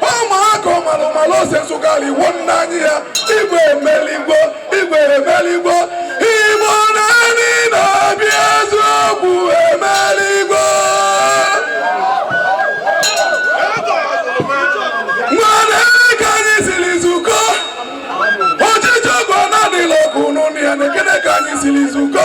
ụmụaka ọmalụmalụ ose nsụgharị iwu nna anyị ya igwe emeligo igwe emeligo igbo niine ndị obi eziokwu emeligo nenee ka anyị siri zukọ ọchịchị ọgwụ anadịla ọkụ n'ụnụ ya nekene ka anyị siri zukọ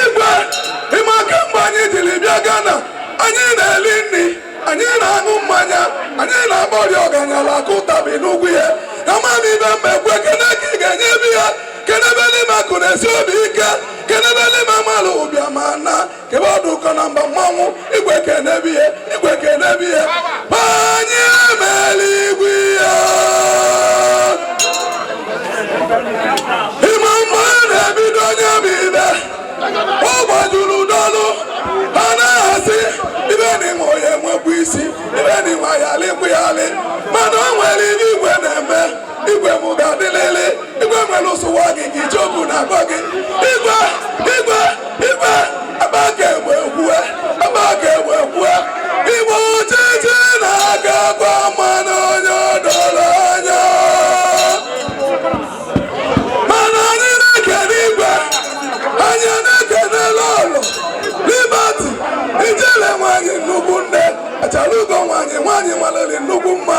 igwe ị ma kemgbe anyị jiri bịa Ghana anyị na-eli nri anyị na-aṅụ mmanya anyị na-ekpori ọganyala aka ụtabi n'ugwu ya amaghị ibe mma ekwe kene ka ị ga-enye ebe ya kenebelụ m akụ na-esi obi ike kenebelụ m amalụ ụbịa ma na kebe ọdụ ụkọ na mba mmanwụ igwe ka na-eme ihe igwe ka na-eme ihe onye mere igwe ihe ịma mma na-ebido onye bụ ibe ọ gbajulu dọlụ ha na-asị ibe na ịma onye nwekwa isi ibe na ịma ya alịkwu ya alị mana o nwere ibe igwe na-eme igwe m ga-adịlịlị igwe nwere ụsụwa gị ka ije obu na-agwa gị igwe igwe igwe ebe a ga-egbe ekwue ebe a ga-egbe ekwue igwe ọchịchị na-aga gwa mmanụ onye ọdọrọ anya mana anyị na-ekene igwe anyị na-ekene lọlọ Liberty ijele nwanyị nnukwu nne achalugo nwanyị nwanyị malụ nnukwu mma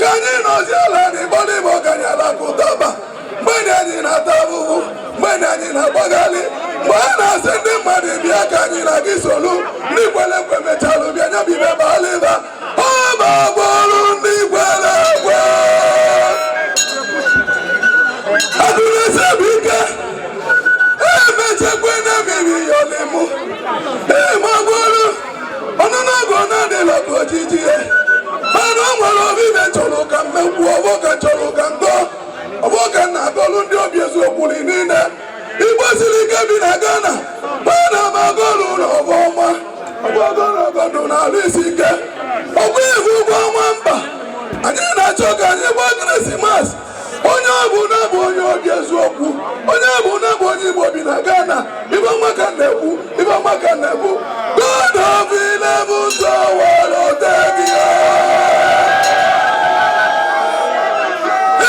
ka anyị nọzi ala n'igbo n'ime ọganye ala ka ụtaba mgbe na anyị na-ata ahụhụ mgbe na anyị na-agbagharị mgbe a na-asị ndị mmadụ bịa ka anyị na gị solu ndị kwere ekwe mechalụ bịa nya bụ ibe baala ịba ọ bụ agwa ọrụ ndị kwere ekwe agụrụsị bụ ike emechekwa na mmiri yọlimụ ịmagwụrụ ọnụnọgụ na adịla bụ ojiji ihe mana o nwere obibe chọrọ ka mmegbu ọ bụ ka m chọrọ ka m gọọ ọ bụ ka m na-agọlụ ndị obi eziokwu niile igbo siri ike bi na Ghana mana m agọlụ na ọ bụ ọnwa ọbụgọrọgọdụ na alụ isi ike ọgwụ ị fụgo ọnwa ember anyị na-achọ ka anyị gbaa krismas onye ọbụna bụ onye obi eziokwu onye ọbụna bụ onye igbo bi na Ghana ibe ọma ka na-ekwu ibe ọma ka na-ekwu God of eleventh hour otegia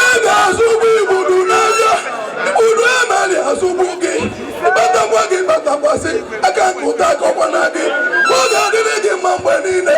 ị ga-azọgbu igbudu n'abịa igbudu emeli azọgbu gị ị kpatakwa gị kpatakwasị aka nke ụta akọkwana gị ọ ga-adịrị gị mma mgbe niile